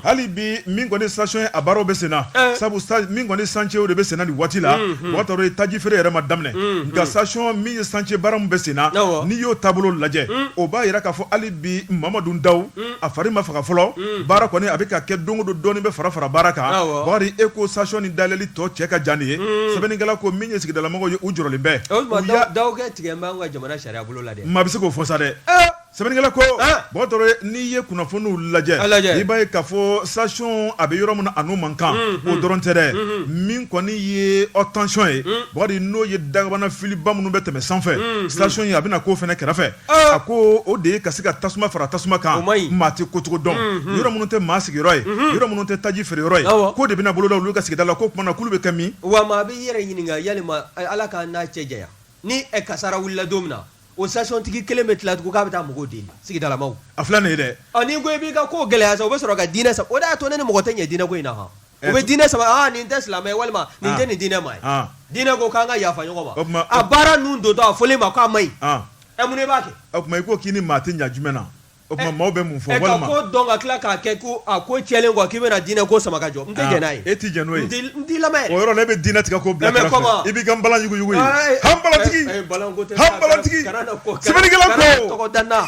hali bi min kɔni station ye a baaraw bɛ senna sabu min kɔni chantier o de bɛ senna nin waati la Bokar Traoré taji feere yɛrɛ ma daminɛ nka station min ye chantier baara min bɛ senna n'i y'o taabolo lajɛ o b'a yira k'a fɔ hali bi Mamadu Daw a fari ma faga fɔlɔ baara kɔni a bɛ ka kɛ don o don dɔɔnin bɛ fara fara baara kan Bɔkari e ko station ni dayɛlɛli tɔ cɛ ka jan ye sɛbɛnnikɛla ko min ye sigidalamɔgɔw ye u jɔrɔlen bɛ tigɛ ka jamana sariya bolo la maa bɛ se k'o fɔ sa dɛ sɛbɛnnikɛla ko bɔn n'i ye kunnafoniw lajɛ lajɛ i b'a ye k'a fɔ station a bɛ yɔrɔ min na a n'o man kan o dɔrɔn tɛ dɛ min kɔni ye haute tension ye Bɔkari n'o ye dagabana filiba minnu bɛ tɛmɛ sanfɛ station ye a bɛna na k'o fana kɛrɛfɛ a ko o de ye ka se ka tasuma fara tasuma kan maa tɛ kocogo dɔn yɔrɔ minnu tɛ maa sigiyɔrɔ ye yɔrɔ minnu tɛ taji feere yɔrɔ ye k'o de bɛna boloda olu ka sigida la ko o tuma na k'olu bɛ kɛ min wa maa b'i yɛrɛ ɲininka yala Ala k'an n'a cɛ janya ni kasara wulila don min na o stationtigi kelen bɛ tila tugun k'a bɛ taa mɔgɔw deli sigidalamaw a filɛ nin ye dɛ ko i b'i ka ko gɛlɛya sa o bɛ sɔrɔ ka diinɛ sa o y'a to ne ni mɔgɔ tɛ ɲɛ diinɛ ko in na o bɛ diinɛ sama nin tɛ silamɛ ye walima nin tɛ nin diinɛ ma ye diinɛ ko k'an ka yafa ɲɔgɔn ma a baara ninnu don a fɔlen ma k'a man ɲi ɛ mun de b'a kɛ o tuma i ko k'i ni maa tɛ ɲɛ jumɛn na o tuma maaw bɛ mun fɔ walima ka ko dɔn ka tila k'a kɛ ko a ko cɛlen kɔ k'i bɛna diinɛ ko sama ka jɔ n tɛ jɛn n'a ye e tɛ jɛn n'o ye n t'i lamɛn o yɔrɔ la e bɛ diinɛ tigɛ k'o bila kɛrɛfɛ i b'i ka npalan yuguyugu yen han npalantigi han npalantigi sɛbɛnnikɛla ko tɔgɔ da n na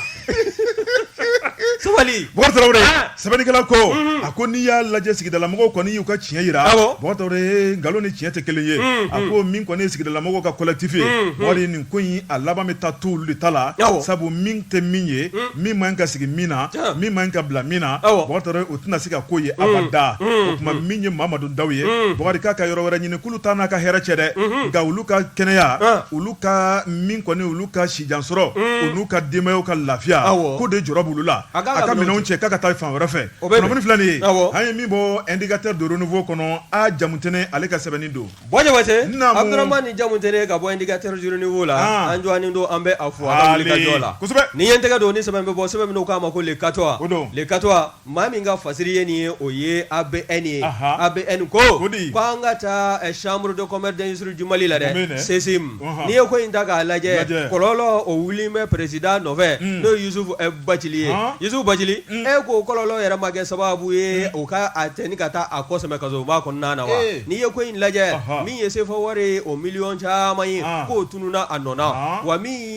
sɛbɛnnikɛla ko a ko n'i y'a lajɛ sigidalamɔgɔw kɔni y'u ka tiɲɛ yira nkalon ni tiɲɛ tɛ kelen ye a ko min kɔni ye sigidalamɔgɔw ka collectif ye Bɔkari nin ko in a laban bɛ taa to olu de ta la sabu min tɛ min ye min man ka sigi min na min man ka bila min na o tɛna se ka ko ye abada o tuma min ye Mamadu Daw ye Bɔkari k'a ka yɔrɔ wɛrɛ ɲini k'olu t'a n'a ka hɛrɛ cɛ dɛ nka olu ka kɛnɛya olu ka min kɔni olu ka jansɔrɔ u n'u ka denbayaw ka lafiya ko de jɔ bolo la a ka minɛn cɛ k'a ka taa fan wɛrɛ fɛ filɛ de ye an ye min bɔ ndkatɛ don fɔ kɔnɔ a jamut ale ka sɛbɛnni don ni jamu tɛ ka bɔ ndkateurununi la an jɔ don an bɛ fɔ la nin ye tɛgɛ don ni sɛbɛn bɔ sɛbɛn k'a ma ko katɔ don kato Maa min ka fasiri ye nin ye o ye A B N ye A B N ko k'an ka taa chambre de commerce d'industrie du Mali la dɛ CCIM n'i ye ko in ta k'a lajɛ kɔlɔlɔ o wulilen bɛ président nɔfɛ n'o ye Youssouf Bathily ye Youssouf Bathily e ko kɔlɔlɔ yɛrɛ ma kɛ sababu ye o ka a cɛni ka taa a kɔ sɛmɛ kasoba kɔnɔna na wa n'i ye ko in lajɛ min ye CFA wari ye o miliyɔn caman ye k'o tununa a nɔ na wa min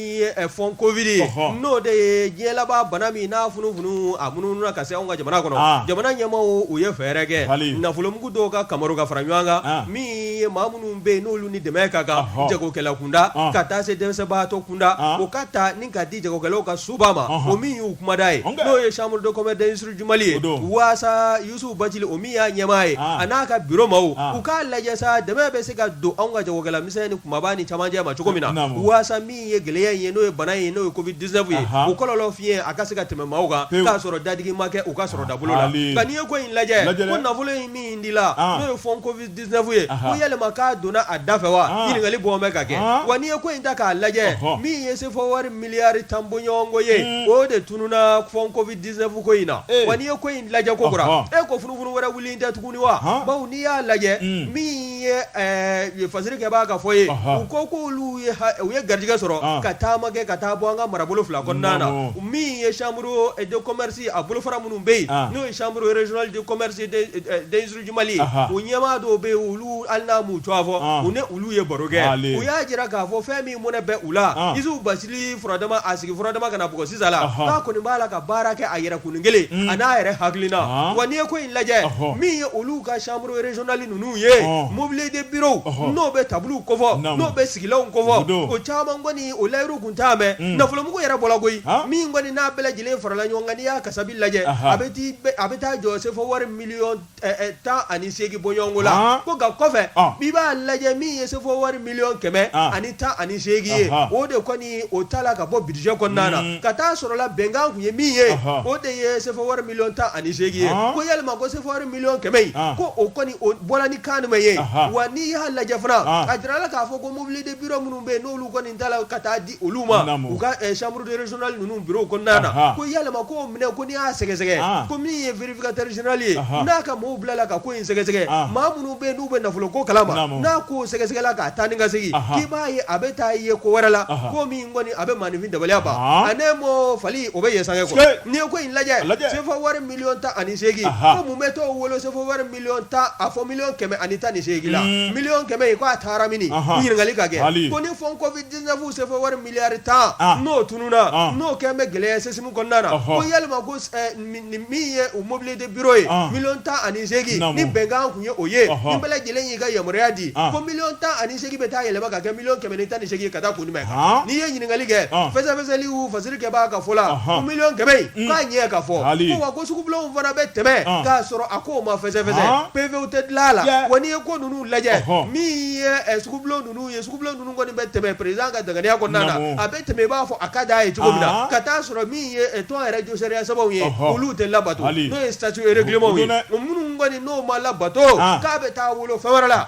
fond Covid ye n'o de ye diɲɛ laban bana min n'a funufunu a munumunu ka se anw ka jamana kɔnɔ jamana ɲɛmaaw u ye fɛɛrɛ kɛ nafolomugu dɔw ka kamaru ka fara ɲɔgɔn kan min ye maa minnu bɛ yen n'olu ni dɛmɛ ka kan jagokɛla kunda ka taa se dɛsɛbaatɔ kunda o ka ta ni ka di jagokɛlaw ka soba ma o min y'u kumada ye n'o ye chambre de commerce d'industrie du Mali ye walasa Yusufu Bacili o min y'a ɲɛmaa ye a n'a ka bureau maaw u k'a lajɛ sa dɛmɛ bɛ se ka don anw ka jagokɛla misɛn ni kunba ni cɛmancɛ ma cogo min na walasa min ye gɛlɛya in ye n'o ye bana in ye n'o ye Covid 19 ye o kɔlɔlɔ fiɲɛ a ka se ka tɛmɛ maaw kan k'a sɔrɔ dadigi ma kɛ u ka sɔrɔ dabolo la nka n'i ye ko in lajɛ ko nafolo in min di la n'o ye fond Covid 19 ye ko yalima k'a donna a da fɛ wa ɲininkali bɔ bɛ ka kɛ wa n'i ye ko in ta k'a lajɛ min ye sefɔ wari miliyari tan bɔɲɔgɔnko ye o de tununna fond Covid 19 ko in na ee wa n'i ye ko in lajɛ kokura ɔhɔ e ko funufunu wɛrɛ wulilen tɛ tuguni wa Han bawo n'i y'a lajɛ Un. min ye ɛɛ fasiri kɛbaa ka fɔ ye Ɔhɔ. u ko k'olu ye ha- u ye garijɛgɛ sɔrɔ An. ka taama kɛ ka taa bɔ an ka marabolo fila kɔnɔna na Naamu. min ye chambre de commerce a bolofara minnu bɛ yen An. n'o ye chambre régionale de commerce et des- et des ɲɛmaa dɔw bɛ yen olu hali n'a m'u tɔgɔ fɔ u ni olu ye baro kɛ u y'a jira k'a fɔ fɛn min mɔnɛ bɛ u la Yusufu Bacili furadama a sigi furadama ka na bɔ sisan la k'a kɔni b'a la ka baara kɛ a yɛrɛ kun kelen a n'a yɛrɛ hakilina wa n'i ye ko in lajɛ min ye olu ka chambre régionale ninnu ye mobilier de bureau n'o bɛ tabaliw kofɔ n'o bɛ sigilanw kofɔ o caman kɔni o layidu tun t'a mɛn nafolomugu yɛrɛ bɔra koyi min kɔni n'a bɛɛ lajɛlen farala ɲɔgɔn kan n'i y'a kasabi lajɛ a bɛ taa jɔ sefɔ wari Miliyɔn ɛɛ 18 bɔɲɔgɔnko la, han, ko nka kɔfɛ, ɔn, i b'a lajɛ min ye sefo wari miliyɔn kɛmɛ ani tan ani seegin ye, ɔnhɔn, o de kɔni o t'a la ka bɔ budget kɔnɔna na, un, ka t'a sɔrɔla bɛnkan tun ye min ye, ɔnhɔn, o de ye sefo wari miliyɔn tan ani seegin ye, ɔn, ko yalima ko sefo wari miliyɔn kɛmɛ in, ɔn, ko o kɔni o bɔra ni kan jumɛn ye, ɔnhɔn, wa n'i y'a lajɛ fana, ɔn, a jirala k'a fɔ ko mobilier de bureau minnu bɛ yen n'olu kɔni tara ka taa di olu ma u ka chambre de régionale ninnu bureau kɔnɔna na ko yalima ko minɛ ko n'i y'a sɛgɛsɛgɛ ko min ye vérificateur général ye n'a ka maaw bilala ka ko in sɛgɛsɛgɛ maa minnu bɛ yen n'u bɛ nafolo ko kalama n'a ko sɛgɛsɛgɛla k'a taa ni ka segin k'i b'a ye a bɛ taa ye ko wɛrɛ la ko min kɔni a bɛ maaninfin dabaliya ban a ne mɔ fali o bɛ ye sange n'i ye ko in lajɛ sefa wari miliyɔn tan ani seegin ko mun bɛ t'o wolo sefɔ wari tan a fɔ miliyɔn kɛmɛ ani tan ni seegin la miliyɔn kɛmɛ in k'a taara min ɲininkali ka kɛ ko ni fond Covid 19 sefa wari miliyari tan n'o tununna n'o kɛlen bɛ gɛlɛya CCIM kɔnɔna na ko yalima ko min ye o mobilier de bureau ye miliyɔn tan ani seegin ni bɛnkan tun ye o ye ni bɛɛ lajɛlen y'i ka yamaruya di ko miliyɔn tan ani seegin bɛ taa yɛlɛma ka kɛ miliyɔn kɛmɛ ni tan ni seegin ka taa kun jumɛn kan n'i ye ɲininkakali kɛ fɛsɛfɛsɛli fasiri kɛ b'a ka fɔ la miliyɔn kɛmɛ in k'a ɲɛ ka fɔ wa ko sugubilaw fana bɛ tɛmɛ k'a sɔrɔ a ko ma fɛsɛfɛsɛ PV tɛ dilan a la wa n'i ye ko ninnu lajɛ min ye sugu ninnu ye sugu ninnu kɔni bɛ tɛmɛ perezidan ka daŋaniya kɔnɔna na a bɛ tɛmɛ i b'a fɔ a ka da a ye cogo min na ka t'a sɔrɔ min ye tɔn yɛrɛ josɛya sababu ye olu tɛ labato n'o ye statut et règlement ye minnu kɔni n'o ma labato k'a bɛ taa wolo fɛn wɛrɛ la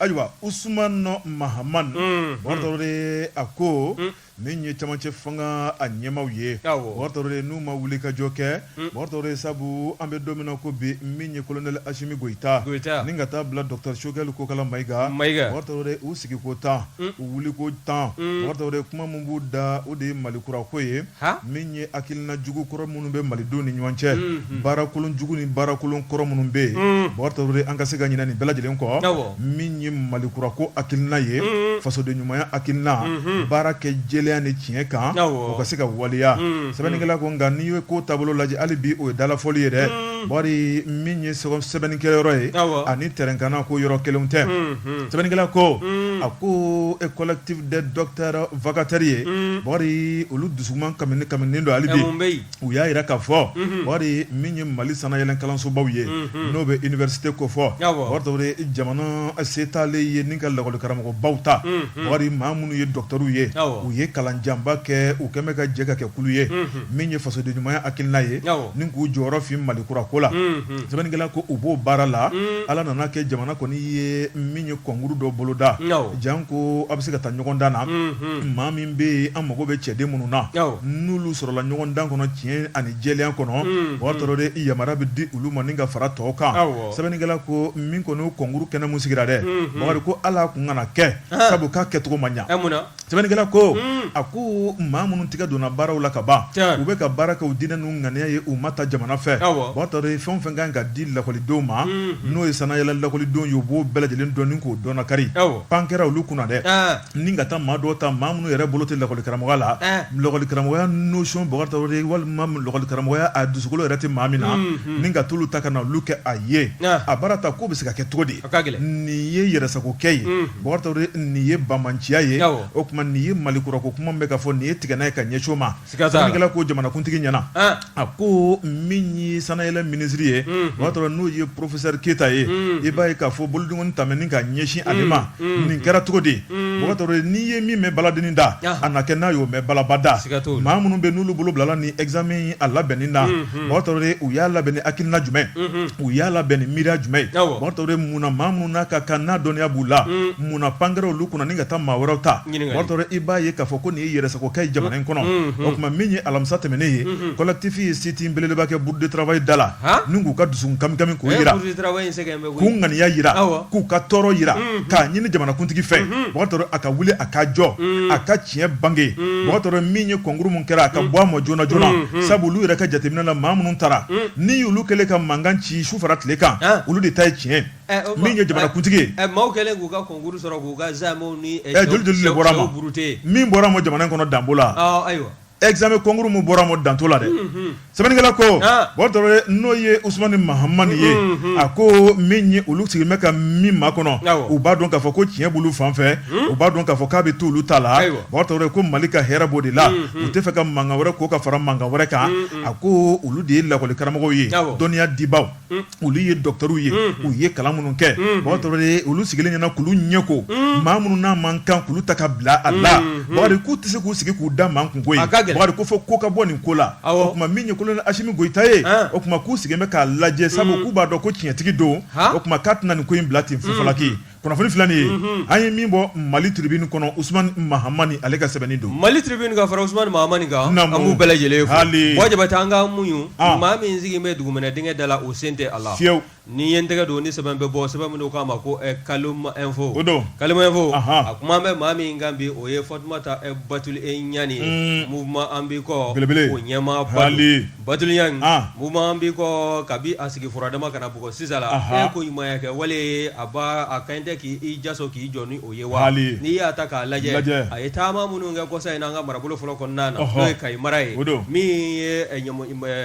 Ayiwa us nɔ mahamani mɔto a ko min ye camancɛ fanga a ɲɛmaw ye mɔto n'u ma wuli kajɔ kɛ mɔto sabu an bɛ don ko bi min ye kolonɛ asimi gta ni ka taa bila dɔta sokɛkɛ ko kala mayika mato u sigiko tan u wuliko tan mɔto kuma min b'u da o de ye mali kurako ye min ye hakilina jugu kɔrɔ minnu bɛ malidenw ni ɲɔgɔn cɛ baarakolon jugu ni baarakolon kɔrɔ minnu bɛ yen bakari tarawele an ka se ka ɲinɛ nin bɛɛ lajɛlen kɔ min ye mali kura ko hakilina ye fasoden ɲumanya hakilina baara kɛ jɛlenya ni tiɲɛ kan o ka se ka waleya sɛbɛnnikɛla ko nka n'i ye ko taabolo lajɛ hali bi o ye dalafɔli ye dɛ bari min ye sɛbɛnnikɛyɔrɔ ye ani tɛrɛn kanna ko yɔrɔ kelen tɛ sɛbɛnnikɛla ko a ko e collectif des docteurs vacataire ye bakari olu dusuman kamikaminen don hali bi u y'a jira k'a fɔ bakari min ye mali sannayɛlɛn kalansobaw ye n'o bɛ université kofɔ bakari tarawele jamana se t'ale ye ni ka lakɔli karamɔgɔbaw ta bakari maa minnu ye docteurw ye u ye kalan janba kɛ u kɛn bɛ ka jɛ ka kɛ kulu ye min ye fasoden ɲumanya hakilina ye ni k'u jɔyɔrɔ fin mali kura ko la sɛbɛnnikɛla ko u b'o baara la ala nan'a kɛ jamana kɔni ye min ye concours dɔ boloda Janko a bɛ se ka taa ɲɔgɔndan na maa min bɛ yen an mago bɛ cɛden minnu na n'olu sɔrɔla ɲɔgɔndan kɔnɔ tiɲɛ ani jɛlenya kɔnɔ bakari tarawele yamari bɛ di olu ma ni ka fara tɔw kan sɛbɛnnikɛla ko min kɔni concours kɛnɛ min sigira dɛ bakari ko ala kun kana kɛ sabu k'a kɛcogo ma ɲa sɛbɛnnikɛla ko a ko maa minnu tigɛ donna baaraw la ka ban u bɛ ka baara kɛ u diinɛ ŋaniya ye u ma ta jamana fɛ bakari tarawele fɛn o fɛn ka kan ka di lakɔlidenw ma n'o ye sannayɛlɛn lakɔlidenw ye u b'o bɛɛ lajɛlen dɔn k'o dɔn bakari pan kɛra olu kunna dɛ ni ka taa maa dɔw ta maa minnu yɛrɛ bolo tɛ lakɔlikaramɔgɔya la lakɔlikaramɔgɔya notion bakari tarawele walima lakɔlikaramɔgɔya a dusukolo yɛrɛ tɛ maa min na ni ka t'olu ta ka na olu kɛ a ye a baara ta k'o bɛ se ka kɛ cogo di nin ye yɛrɛsagokɛ ye nin ye banbaanciya ye o tuma nin ye mali kura ko kuma bɛ ka fɔ nin ye tigɛnɛnɛ ye ka ɲɛcogo ma Sɛbɛnnikɛla ko jamanakuntigi ɲɛna a ko min ye sannayɛlɛn minisiri ye Bakari Tarawele n'o ye porofesɛri Keyita ye i b'a ye k'a fɔ bolodenkɔni ta ni ka ɲɛsin ale ma nin kɛra cogo di Bakari Tarawele n'i ye min mɛn baladennin da a na kɛ n'a y'o mɛn balaba da maa minnu bɛ n'olu bolo bilala ni examen a labɛnni na Bakari Tarawele u y'a labɛn ni hakilina jumɛn u y'a labɛn ni miiriya jumɛn ye Bakari Tarawele munna maa minnu n'a ka kan n'a dɔnniya b'u la munna pan kɛra olu kunna ni ka taa maa wɛrɛw ta Bakari Tarawele i b'a ye k'a fɔ ko nin ye yɛrɛsagokɛ ye jamana in kɔnɔ o tuma min ye alamisa tɛmɛnen ye collectif ye sit-in belebeleba kɛ Bourse du travail da la ni k'u ka dusukun kamikami k'o yira k'u ŋaniya yira k'u ka tɔɔrɔ yira k'a ɲini jamanakuntigi fɛ Bakari Tarawele a ka wuli a ka jɔ a ka tiɲɛ bange Bakari Tarawele min ye kɔnkuru min kɛra a ka bɔ a ma joona joona sabu olu yɛrɛ ka jateminɛ la maa minnu taara ni olu kɛlen ka mankan ci su fara tile kan olu de ta ye tiɲɛ min ye jamanakuntigi ye ɛ maaw kɛlen k'u ka concours sɔrɔ k'u ka examen ni ɛ ɛ joli joli de bɔra a ma sɛw buruti min bɔra a ma jamana in kɔnɔ dan b'o la ɔ ayiwa examen concours min bɔra a ma dan t'o la dɛ sɛbɛnnikɛla ko Bakari Tarawele n'o ye Usumani Mahamani ye a ko min ye olu sigilen bɛ ka min makɔnɔ u b'a dɔn k'a fɔ ko tiɲɛ b'olu fan fɛ u b'a dɔn k'a fɔ k'a bɛ to olu ta la Bakari Tarawele ko Mali ka hɛrɛ b'o de la u tɛ fɛ ka mankan wɛrɛ ko ka fara mankan wɛrɛ kan a ko olu de ye lakɔlikaramɔgɔw ye dɔnniya dibaaw olu ye dɔkɔtɔrɔw ye u ye kalan minnu kɛ Bakari Tarawele olu sigilen ɲɛna k'olu ɲɛ ko maa minnu n'a man kan k'olu ta ka bila a la Bakari k'u tɛ se k'u sigi k'u da makun koyi Bakari k'a fɔ ko ka bɔ nin ko la o tuma min ye kolonɛli Asimi Goyita ye o tuma k'u sigilen bɛ k'a lajɛ sabu k'u b'a dɔn ko tiɲɛtigi don o tuma k'a tɛna nin ko in bila ten fufalaki kunnafoni filan ye an ye min bɔ Mali Tribune kɔnɔ usumani mahamani ale ka sɛbɛnni don Mali Tribune ka fara usumani mahamani kan an b'u bɛɛ lajɛlen fo wa Jabate an ka muɲu maa min sigi bɛ dugumɛnɛ dingɛ da la o sen tɛ a la fiyewu ni ye n tɛgɛ don ni sɛbɛn bɛ bɔ sɛbɛn min n'u k'a ma ko Kalum Info Kalum Info a kuma bɛ maa min kan bi o ye Fatumata Batuli e Ɲani mouvement an b'i kɔ o ɲɛmaa ba Batuli Ɲani mouvement an b'i kɔ kabi a sigi furadama ka na bɔ sisan la a koɲumanya kɛwale a a kan tɛ k'i jaso k'i jɔ ni o ye wa n'i y'a ta k'a lajɛ a ye taama minnu kɛ kɔsa in an ka marabolo fɔlɔ kɔnɔna na n'o ye Kayi mara ye min ye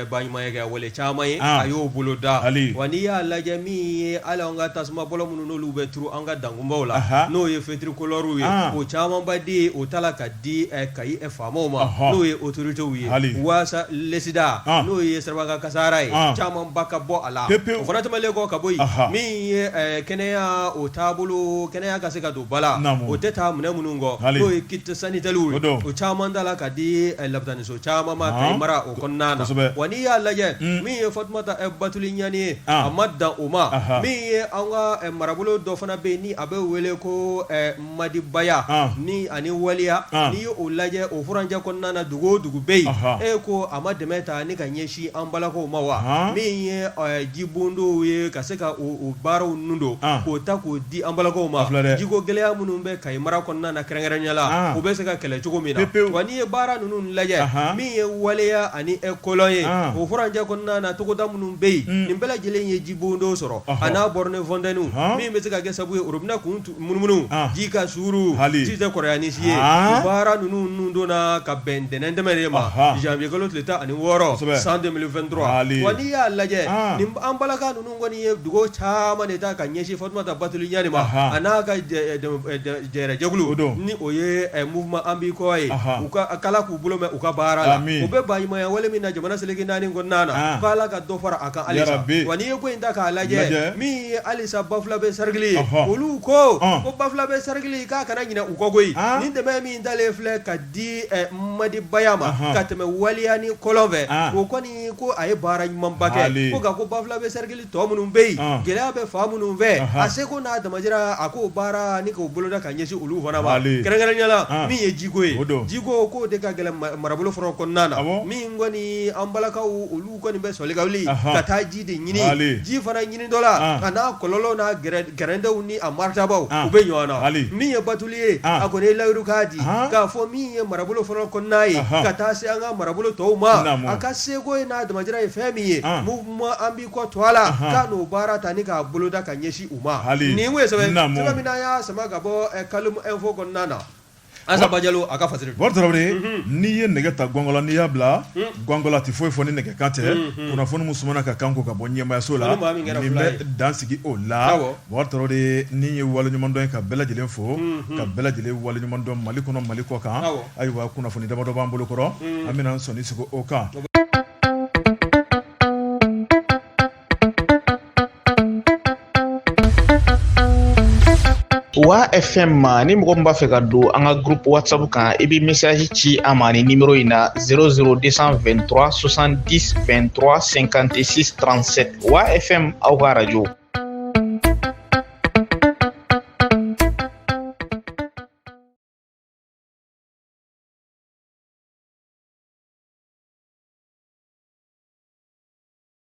baɲumanya kɛwale caman ye a y'o boloda wa n'i y'a lajɛ min ye hali an ka tasuma bɔlɔ minnu n'olu bɛ turu an ka dankun la n'o ye fetirikolɔriw ye o camanba di o ta ka di di Kayi faamaw ma n'o ye otoritew ye waasa lakisidan n'o ye siraba kan kasaara ye caman ba ka bɔ a la o fana tɛmɛlen kɔ ka bɔ yen min ye kɛnɛya o taabolo kɛnɛya' ka se ka don ba la o tɛ taa minɛn minnu kɔ n'o ye kit sanitaire o caman da la ka di lɔpitaniso caman ma Kayi mara o kɔnɔna na wa n'i y'a lajɛ min ye fatuma batuli ɲani ye a ma dan o ma min ye an ka marabolo dɔ fana bɛ yen ni a bɛ wele ko Madibaya ni ani Waliya n'i y'o lajɛ o furancɛ kɔnɔna na dugu o dugu bɛ yen e ko a ma dɛmɛ ta ni ka ɲɛsin an balakaw ma wa min ye jibondow ye ka se ka baaraw ninnu don k'o ta k'o di an balakaw ma filɛ jiko gɛlɛya minnu bɛ Kayi mara kɔnɔna na kɛrɛnkɛrɛnyala o bɛ se ka kɛlɛ cogo min na wa n'i ye baara ninnu lajɛ min ye Waliya ani e kɔlɔn ye o furancɛ kɔnɔna na togoda minnu bɛ yen nin bɛɛ lajɛlen ye jibondow sɔrɔ a n'a borne fontaine min bɛ se ka kɛ sababu ye robinet kun munumunu ji ka suuru hali ji tɛ kɔrɔya ni si ye baara ninnu ninnu donna ka bɛn ntɛnɛn tɛmɛnen de ma janvier kalo tile tan ani wɔɔrɔ san 2023 wa n'i y'a lajɛ nin an balaka ninnu kɔni ye dugawu caman de ta ka ɲɛsin Fatumata Batuli Ɲani ma a n'a ka jɛrɛjɛkulu ni o ye mouvement An b'i kɔ ye u ko k'Ala k'u bolo mɛɛn u ka baara la u bɛ baɲumanya wale min na jamana seleke naani kɔnɔna na k'Ala ka dɔ fara a kan halisa wa n'i ye ko in ta k'a lajɛ min ye hali sa Bafulabe cercle ye olu ko ko Bafulabe cercle k'a kana ɲinɛ u kɔ koyi ni dɛmɛ min dalen filɛ ka di Madibaya ma ka tɛmɛ Waliya ni kɔlɔn fɛ o kɔni ko a ye baara ɲumanba kɛ ko nka ko Bafulabe cercle tɔ minnu bɛ yen gɛlɛya bɛ fan minnu fɛ a seko n'a damajira a k'o baara ni k'o boloda ka ɲɛsin olu fana ma kɛrɛnkɛrɛnyala min ye jiko ye jiko k'o de ka gɛlɛn marabolo fɔlɔ kɔnɔna na min kɔni an balakaw olu U kɔni bɛ sɔli ka wuli ka taa ji de ɲini ji fana ɲinitɔla a n'a kɔlɔlɔw n'a gɛrɛntɛw ni a maritabaw u bɛ ɲɔgɔn na min ye Batuli ye a kɔni ye layiru k'a di k'a fɔ min ye marabolo fɔlɔ kɔnɔna ye ka taa se an ka marabolo tɔw ma a ka seko ye n'a damajira ye fɛn min ye mouvement An b'i kɔ tɔgɔ la k'a n'o baara ta ni k'a boloda ka ɲɛsin u ma nin sɛbɛn min n'a y'a sama ka bɔ Kalum Info kɔnɔna na n'i ye nɛgɛ ta gɔngɔla n'i y'a bila gɔngɔla tɛ foyi fɔ ni nɛgɛ kan tɛ kunnafoni min sumana ka kan ko ka bɔ ɲɛmayaso la n bɛ dan sigi o la Tarawele nin ye waleɲumandɔn ye ka bɛɛ lajɛlen fo ka bɛɛ lajɛlen waleɲumandɔn Mali kɔnɔ Mali kɔkan ayiwa kunnafoni damadɔ b'an bolo kɔrɔ an bɛna sɔɔni segin o kan Wa FM ma ni mɔgɔ min b'a fɛ ka don an ka groupe WhatsApp kan i bɛ message ci an ma ni numéro in na 00223 70 23 56 37 Wa FM aw ka radio.